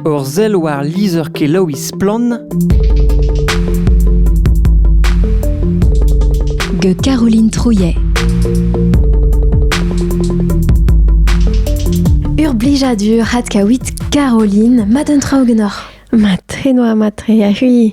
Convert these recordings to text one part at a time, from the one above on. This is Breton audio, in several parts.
Ur sell war lizher-kelaouiñ Splann! gant Caroline Trouillet. Ur blijadur adkaouit Caroline, mat un tra augenoc'h. Mat, enoa mat re, a-hui.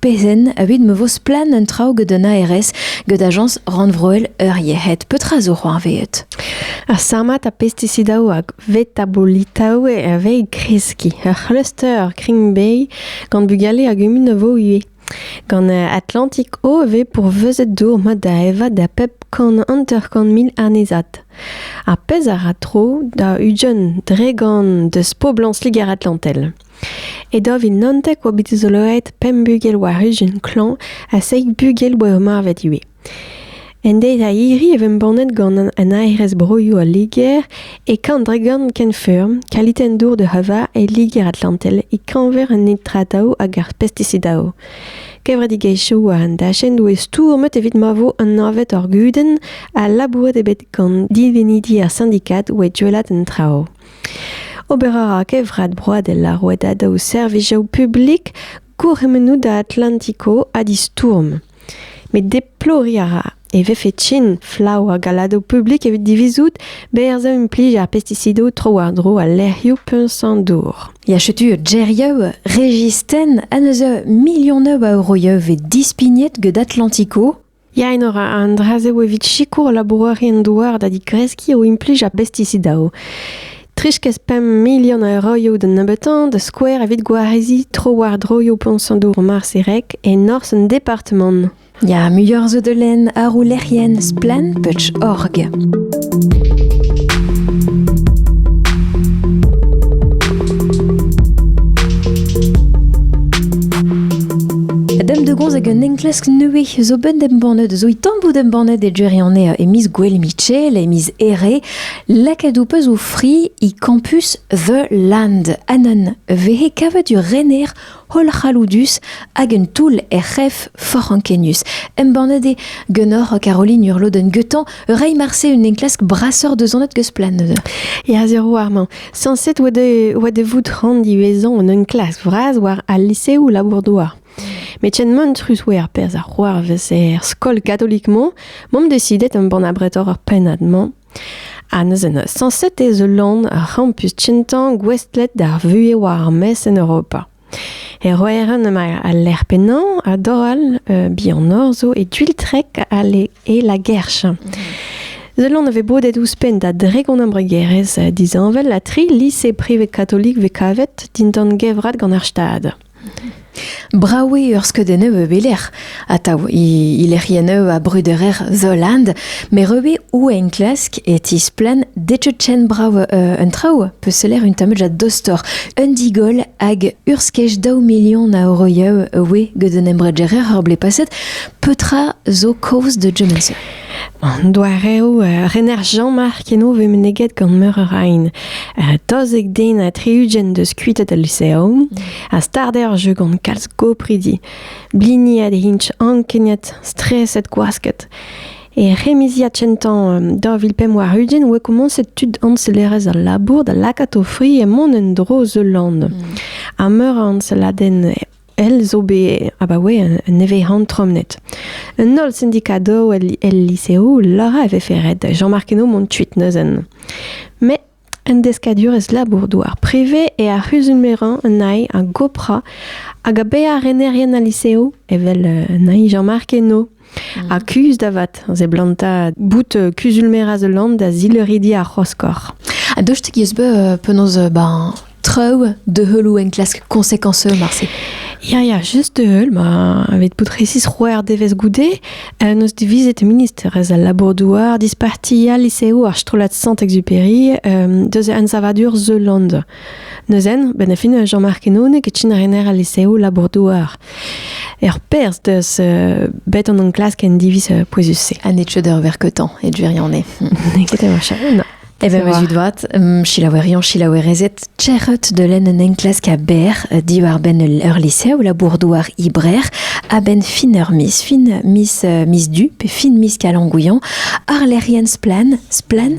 Pezen, evit ma vo splann un traoù gant an ARS gant ajañs rannvroel ur yec'hed, petra zo c'hoarvezet? Ar samat ha pestisidaoù hag vetabolitaoù a vez e kreskiñ. Ur c'hluster Green gant bugale a gumun a vo ivez. Gant Atlantic O e vez pourvezet dour mat da evañ da pep kant hanter-kant mil annezad. Ar pezh a ra tro da Ujeun dre gant deus poblañs Liger-Atlantel. E daou vil naontek oa bet dizoloet pemp bugel war ijin klañv ha seizh bugel oa ur marvet ivez. En deiz-a-hiri e embannet gant an aerez broioù al Liger e Kandregan kenfeurm kalitenn dour de Hava e Liger-Atlantel e-keñver an nitrataoù hag ar pestisidaoù. Kevredigezhioù war an dachenn doe stourmet evit ma vo anavet ar gudenn ha labouret eo bet gant divenidi ar sindikad oa duellat an traoù. Ober a ra Kevrat Broadel ar rouedadaoù servijoù publik gourc'hemennoù da Atlantico ha distourm. Met deploriñ a ra e vefe trin flav ar galadoù publik evit divizout berzh a implij ar pestisidoù tro-war-dro al lec'hioù puñs-an-dour. Ya setu geriaou Registenn en deus milionoù a euroioù vez dispignet get Atlantico. Ya, enor an dra-se eo evit sikour labourerien-douar da digreskiñ o implij ar bestisidaoù. 30-pemp milion a euroioù da nebeutañ da skouer evit gwareziñ tro-war-dro yo poñsadour Marserek e norzh an departamant. Ya, muioc'h zo da lenn àr o lec'hienn splann.org. hag un enklask nevez zo ben embannet zo i tambout embannet e Jerry an e miz Gwell Mitchell e miz Ere lakaet ou peus o fri i campus The Land anan vehe kavet ur rener hollc'halloudus hag un toull er c'hef forc'h ankenius. Embannet eo ganeoc'h Caroline Urloden-Guetan reiñ marse un enklask brasoc'h deus an eus-plan neuze. Ya, sur warmañ. Sañset oa de vout rand ivezañ un enklask vras war al liseoù labour-douar. Met ken mantrus oa ar perzh a c'hoarvez er skol katolik-mañ, m'am desidet embann abretoc'h ar pennad-mañ Ha neuze sañset ez eus lann ur c'hampus kentañ gouestlet d'ar vuhez war ar maez en Europa. E Roeran emañ al lec'h pennañ ha dor all bihanoc'h zo e Gwiltrek e La Guerche. Ul lann a vez bodet ouzhpenn da dregont embregerezh disheñvel ha tri lise privet katolik vez kavet dindan gevrat gant ar Stad. Brav eo ur skeudenn e belec'h atav he lec'hienn a brederer Zoland, met re ou enklask e tisplann detechenn brav un traoù peus seller un tamm a dostor un digol hag ur skej daou milion a euroioù oe gant un embregereur ur blez paset petra zo kaoz de German Sir. An doareoù uh, rener Jean-Marc eno vez meneget gant meur a rain. Uh, tozek den ha tri-ugent deus kuitet al lyceum a start eo ar jeu gant kalz gopridi. Bliniet int ankeniet, streset gwasket. E remiziad kentañ um, 2005 warugent oa komañset tud añselerezh al labour da lakaat o fri e mont en-dro zeul land. Mm. Ha meur a añseladenn elle zo bet abaoe un nevez-han tromnet. Un holl syndicado el, lycéo lora e vefe ret Jean-Marc Henault mont tuit neuzen. Mais un deskadurez labour-douar privé e ar c'huzulmeran un aï a gopra hag a be ar renerien al lycéo evel euh, un aï Jean-Marc Henault. Ha kuzh da vat, a seblantañ bout euh, kuzul-merañ the land da zilridi ar c'hoskor. A dostik eus be euh, penaos euh, ben, traoù de heulou enklask conséquenceux marse. Ya, ya, just de heul, ma aved pout resis roer devez goude, euh, nos divizet ministerez al labour-douar disparti al liseoù ar strollad Sant-Exupéry euh, deus an savadur The Land. Neuzen, ben a fin Jean-Marc Henaud e kin rener al liseoù labour-douar. Er perz deus euh, bet an enklask en diviz euh, pouezus-se. Ha net cheuder ver keutan, et gwirione. Nekete marcha. E ben meus vat, um, chilaouerion, chilaouerezet, txerret de len un enklask a ber euh, diwar ben ur liseoù labour-douar ibrer a ben fin ur mis, fin mis, euh, mis du, pe fin mis kalangouillan, ar lerien splan, splan,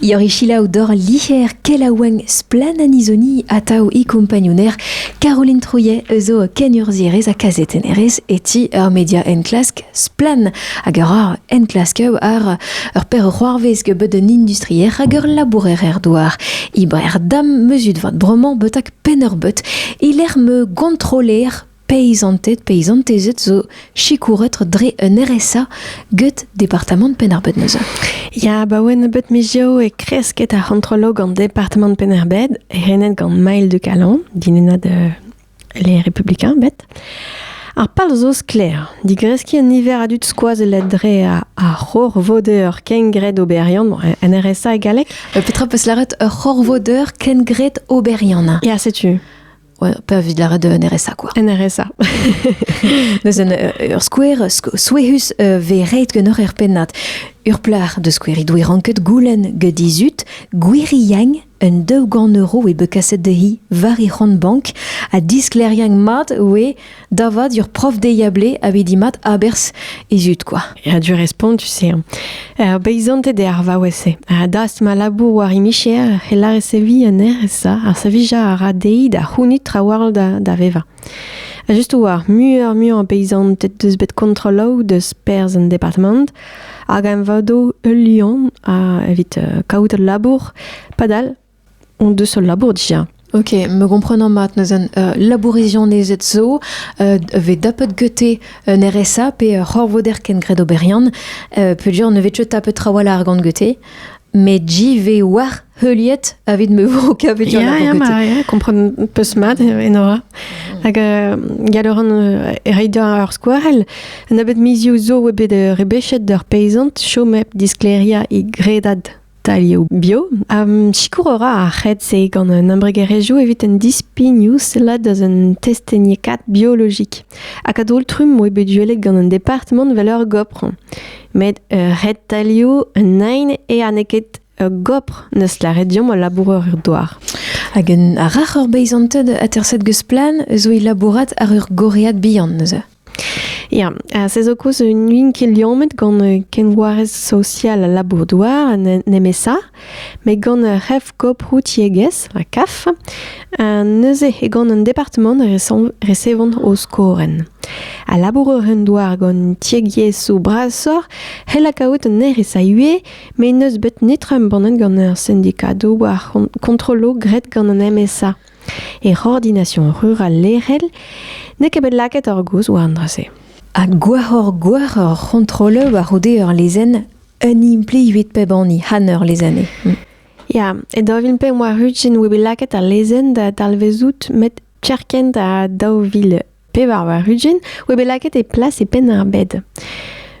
Ior eo selaou doc'h licer kelaouenn Splann-Anisoni atav e kompagnouner Caroline Trouillet eus o kenurzhierez ha kazetennerez e ti ur media enklask Splann hag a ra enklasker ar ur perc'hoarvez bet un industrier hag ur labourer er douar. Iber dam mezut vat bromañ betak penn ur bet e lec'h me gontroler Peizanted, peizantezed zo sikouret dre un RSA get departamant Penn-ar-Bed neuze. Ya, ba oen nebeut mizioù e kresket ar c'hontrolo gant departamant Penn-ar-Bed, renet gant Maël de Calon, dinennad euh, les Républicains, bet. Ar pal zo sklaer, digreskiñ un niver a dud skoazellet dre a ar c'horvodeur kengred oberiant, bon, un RSA e galleg. Euh, Petra peus lâret ur c'horvodeur kengred oberiant? Ya, setu. Pe evit lâret un RSA quoi. Un RSA. Neuze euh, ur skouer souehus euh, ve reit gen ur er pennad. Ur plac'h de skouer he doe ranket goulenn get dizut gwir yang un daou gant euro e be kaset de hi war he c'hont bank ha diskleriañ mat oe Da vat, ur prof deiablé a vedi mat aberzh e zud kwa. Ya, du respont, tu sais. Hein. Ar beizanted eo ar vaouez-se. Ha dast ma labour war imicher, e lâre sevi anezhe ça. Ar savija a ra dezhi da c'hounit trawall da, da vevañ. Ha just war, muioc'h muioc'h beizanted deus bet kontrolloù deus perzh en departement, hag em vado ul liamm a evit uh, kaout ul labour, padal on deus ul labour dija. Ok, me gomprenan mat neuzen uh, labourizianezed zo uh, ve tapet gete un RSA pe uh, c'horvoder ken gred oberian uh, peudure ne vet tapet trawalc'h gant gete met JV war heuliet avit me vo kavet ja, ja, ma, ja, kompren peus mat enora. Mhm. Hag uh, galoran uh, reidañ ar skouarell, un abet mizioù zo e bet uh, rebechet d'ur peizant chomep diskleriañ e gredad Talioù bio. Um, sikour a ra ar c'hed-se gant un embregerezhioù evit un dispignoù sellat deus un testeniekaat biologik. Hag a-daol-trumm oe bet duellet gant un departement vel ur gopr. Met uh, ret talioù un nain e aneket ur gopr neus laret diomp al laboureur er doar. Hag un rac'h ur beizanted aterset geus plan eus oe labourat ar ur goread bihan neuze. Ya, se zo koulz n'oun ket liammet gant kenvoarez sosial al labour-douar, nemesa, met gant ur c'hef-koprou tiegezh, ha CAF, neuze eo gant un departamant resevont o skorenn. A labourer un douar gant tiegiezhioù brasoc'h c'hell kaout un erez a ivez, met n'eus bet netra embannet gant ar sindikadoù war kontrolloù graet gant an MSA. E ordination rural lec'hel n'eo ket bet lakaet ar gozh war an dra-se. Ha gwahoc'h-gwahoc'h ur c'hontroleur war-c'houde ur lezenn un implivit pep hini han ur lezenn eo. Ya, e daou vil pemp war-ugent e oa bet lakaet al lezenn da dalvezout met kerkent ha daou vil Pevar war ugent oa bet lakaet e plas e Penn-ar-Bed.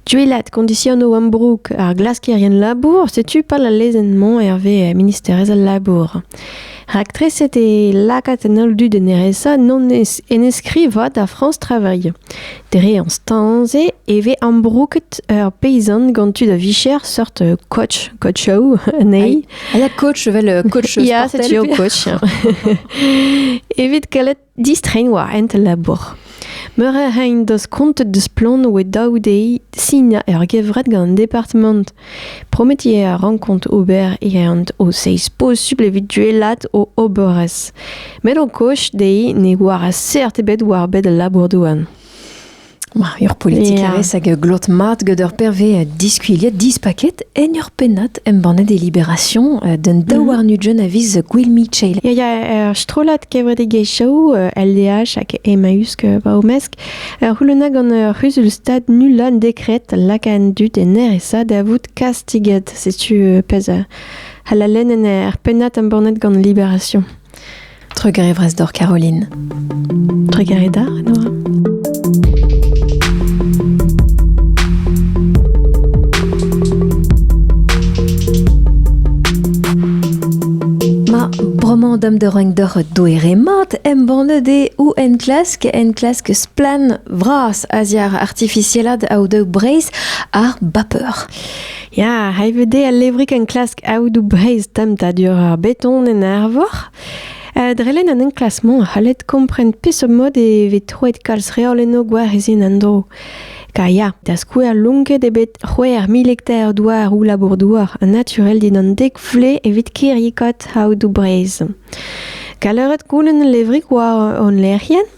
Duellat kondisionoù ambroug ar glaskerien labour, setu pal al lezenn-mañ hervez ministerez al labour. Raktreset eo lakaat an holl dud en RSA non en eskrivañ da France Travail. Dre an stañ-se e vez ambrouget ur peyzant gant tud a-vicher sort coach, coachoù anezhi. Ah, ya, coach, vel coach sportel. Ya, setu ur coach. Evit kalet Distreiñ war hent al labour. Meur a ray en deus kontet deus Splann oe daou dezhi sinañ ur gevred gant an departamant. Prometiñ a rankont ober e ant o seizh posubl evit duellat o oberezh. Met o koch dezhi ne oar seurt ebet war bed al labour-douar. Ur politikerez hag glot mat gant ur perve diskuilhet dispaket en ur pennad embannet e Libération d'un mhm. daouarn-ugent a viz Gwill Michel. Ya, ya, ur strollad kevredigezhioù LDH hag Emmaüs va omesk ur c'houluna gant ur c'huzul-stad nullan dekret lakaat dut en RSA da vout kastiget. Setu pezh halalen en er pennad embannet gant Libération. Trugarez doc'h Caroline. Trugarez da, Nora. Roman dam de reng dor doere mat embannet e ou en klask en klask splan vras aziar artificielad au de breis ar bapeur. Ya, hay veut dezhe al levrig enklask aodoù Breizh temptadur ar beton en Arvor. Uh, drelen an enklasmant a c'hallet kompren peseurt mod e vez troet kalz reol eno gwarizien an dro. Ka ya, da skouer lonket e bet c'hwec'h mil hektar douar ou labour-douar naturel dindan dek vle evit kirrikot aodoù Breizh. Kaleret koulen levrig war hon lec'hienn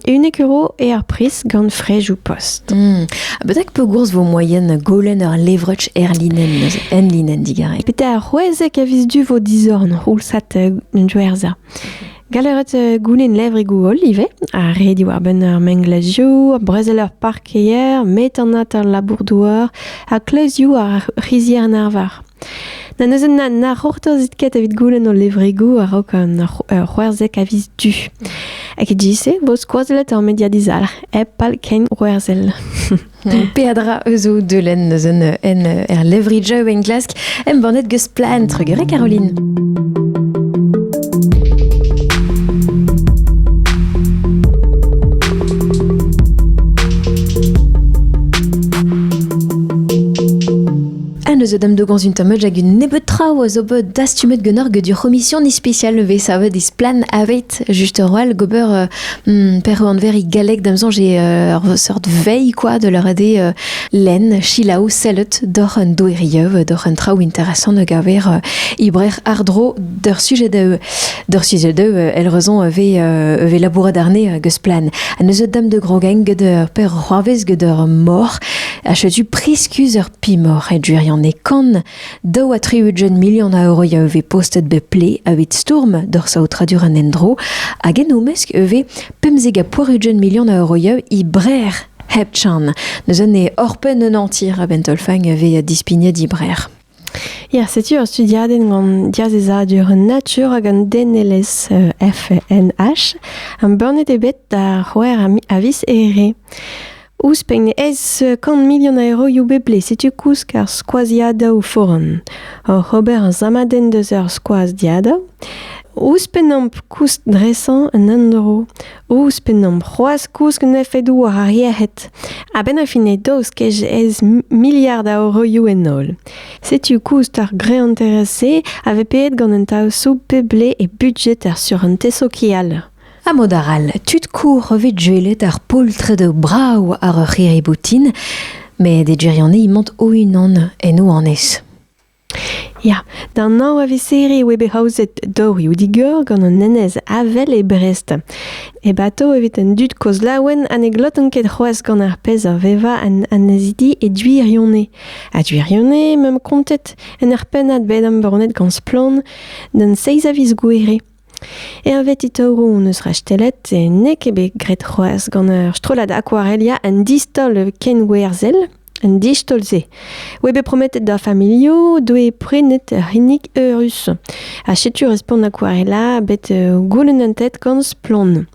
Unnek euro eo ar priz gant frejoù post. Hmm. Betek pegourz vo moyen golen ur levrech er linen neuze, en linen digarek? Pete ar c'hwezek a vis du vo dizorn c'houlsat un joerza. Galeret euh, goulen levrigoù holl ivez, a redi war benn ar menglazioù, brezel ar parkeier, metanat ar labour-douar, ha kleuzioù ar c'hizier arvar. Na neuze na, na c'hortozit ket evit goulenn ho levregoù a-raok an ur c'hwerzek a viz du. Hag e bo skoazellet ur media dizalc'h, hep pal ken c'hwerzel. Peadra eus o deulenn eus un en er levri Joe en Glask embannet geus plaen Trugere Caroline. Ha neuze dam dogañs un tamm hag un nebeud traoù a zo bet dastumet ganeoc'h get ur c'homision ispisial vez savet isplan aveit just ur wall gober euh, hmm, per anverig galleg dam soñj eo euh, ur seurt veilh quoi de leur ade euh, lenn chilaou sellet doc'h un doeriev doc'h un traoù interesant a gaver euh, ibrer ardro d'ur sujet da d'ur sujet da el raison vez euh, vez labourat arne geus plan ha neuze dam de grogeng get ur per c'hoarvez get ur mor a chetu priskuz ur P'emaoc'h e gwirionez-kan, daou ha tri-ugent milion a euroia e vez postet bep ple evit stourm d'hor saotradur an endro, hag en o mesk e vez pemzek ha poar-ugent milion a euroia e Brer hep chan. Neus un e orpen un antir a bentolfang a vez dispignet e Brer. Ya, setu ur studiadenn gant diazezadur an natur hag an denelezh euh, FNH. Am burnet eo bet da c'houer a vis ere. Ouzhpenn ez eus kant milion a euroioù bepred, setu koulz ar skoaziadoù foran. Oc'h ober ar samadenn deus ar skoaziadoù, ouzhpennomp koust dresañ un endro, ouzhpennomp c'hoazh kouskin efedoù war ar yec'hed. A-benn ar fin eo daoust kej ez miliard a euroioù en holl. Setu koust ar greanterezh-se a vez peet gant un taosoù pep ble e budjet ar surentez sokial. Ha mod arall, tud kour vez gwelet ar poltred brav àr ur c'hirri-boutin, met e gwirionez emañ o-unan en o annez. Ya, d'an anv a visiri eo bet aozet dorioù-digor gant an enez Avel e Brest. E bato evit an dud kozh laouen ha ne glotan ket c'hoazh gant ar pezh a vevañ an annezidi e Duirionez. Ha Duirionez m'am kontet en ur pennad bet embannet gant Splann d'an 6 a viz gouere. Hervez Itoru hon eus rastellet e n'eo ket bet graet c'hoazh gant ur strollad akwarelia un distaol kenwerzhel un distaol-se oa bet prometet d'ar familhoù doe prenet ur c'hinnig eurus ha setu respont akwarela bet uh, goulennet gant Splann.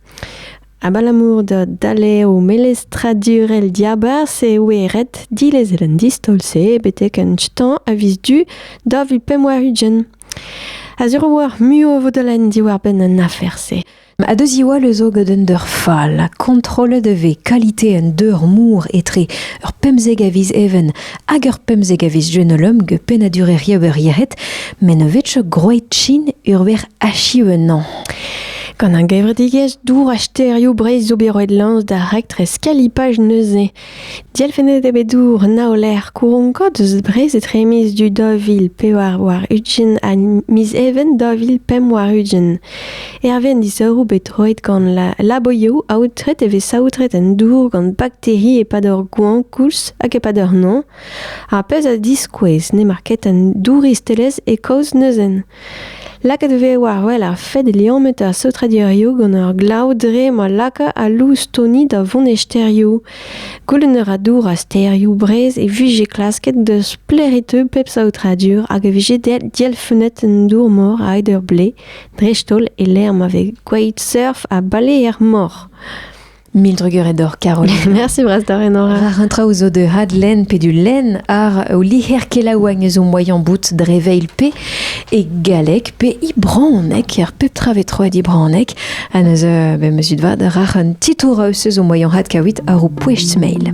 Abalamour da daleo melestradurel diabarzh e oe ret dilezel an distaol-se betek un stañ a viz du da vil pemp war ugent. A-zero war muioù o vodalenn diwar-benn an afer-se. A deus Iwal eus o gant un deur fall, kontrollet e vez kalite un deur mour etre ur pemzek a viz even hag ur pemzek a viz jenolum ge pennadureriañ ur yec'hed, met ne vez groeit chin urver achiv ennañ. Gant un gevredigezh dour ha sterioù Breizh zo bet roet lañs da raktres kalipaj neuze. Dielfennet eo bet dour Naoler Kouronko deus Brest etre miz du daou vil pevar warn-ugent ha miz Even daou vil pemp warn-ugent. Hervez an disourroù bet roet gant la laboioù aotret e vez saotret an dour gant bakteri e-pad ur goañv koulz hag e-pad ur noz. Ar pezh a diskouez n'emañ ket an douristelezh e kaoz neuzen. Lakaet e vez war-wel ar fed liammet ar saotradurioù gant ar glav dre ma laka al loustoni da vont e stêrioù. Goulenn a ra dour ar stêrioù Breizh e vije klasket da sklêriañ pep saotradur hag e vije dielfennet an dour-mor a-hed ur blez, dreist-holl e-lec'h ma vez gwelet surf ha baleer-mor. Mil drugarez d'or, Caroline. Merci brastare, Nora. War un traoù zo de hadlen pe du len ar o liher kelaouagn eus o moaien bout dre veil pe e galleg pe i braonek, ar pep tra vetroet i braonek, ha neus euh, be meusud vad rac'h un titour eus eus o moaien had kawit ar o poecht mail.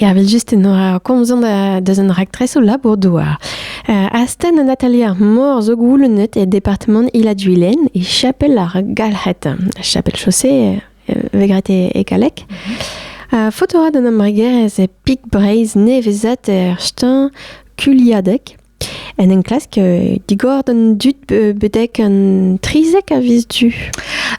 Ervel-just enoa komzon deus an raktres o labour-douar. Uh, astenn an atelier ar mor zo goulennet e departement Ila-Duilen e chapel ar Galc'het. Chapel chaussée euh, vegret e, e galek. Uh, fotora d'an embregerezh e Pik Breizh nevezat er stan Kuliadek. En enklask euh, digor d'an dud bedek un trizek a vis du.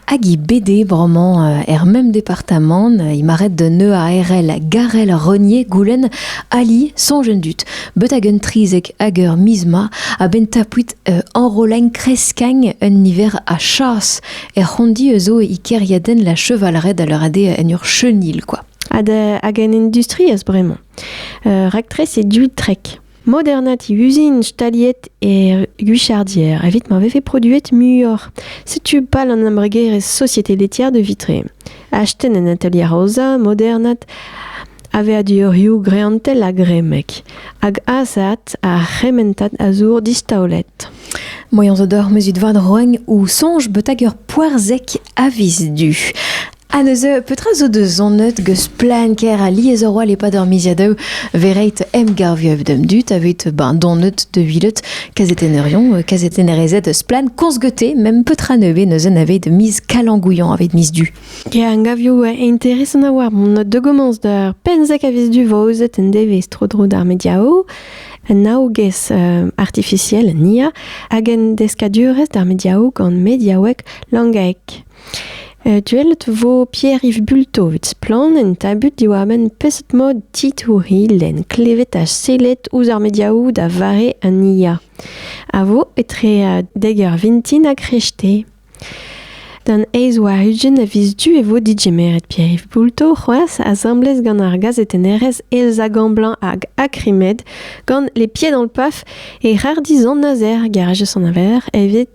Hag i bede vraiment euh, er même département, euh, il m'arrête de neu a RL Garel Renier Goulen Ali son jeune dut. Betag un trizek ager misma a ben tapuit enroleng kreskang un hiver a chas er rondi eus o ikeriaden la chevalret à leur ade en ur chenil quoi. Ad hag en industrie as bremañ. Euh, Raktres e du trek. Modernat e uzin staliet e Guichardier evit ma vefe produet muioc'h. Setu pal an embregerezh Société laitière de Vitré. Astenn en atelier aozañ modernat aveadurioù greantel ha gremek, hag azaat ar c'hementad a zour distaolet. Moyans zo d'or mezut vad roagn ou sonj beutag ur poarzek avis du. Ha neuze, petra zo da zonet geus plan ker alies a roal e-pad ar miziadoù verreit emgavioù d'am dud aveit ben donet de vilet kazetenerion, euh, kazetenerezed eus plan korzgete, mem petra nevez neuzen aveit miz kalangouillan aveit miz du. Ya, angavioù euh, interesant a war mon de gommence d'ar penzek a vis du vaozet en devez tro-dro d'ar mediao, un aogez euh, artificiel nia hag en deskadurez d'ar mediao gant mediaouek langaek. Duellet vo Pierre-Yves Bulto evit Splann! en tabut diwar-benn peseurt mod titourilh lenn klevet ha sellet ouzh ar mediaoù da vare an IA a vo etre dek eur vintin ha kreñvte. D'an eizh war ugent a viz du e vo digemeret Pierre-Yves Bulto c'hoazh asambles gant ar gazetennerez Elsa Gamblanc hag Akrimed gant Les Pieds dans le Paf e rar dizan azer garez an aveler evit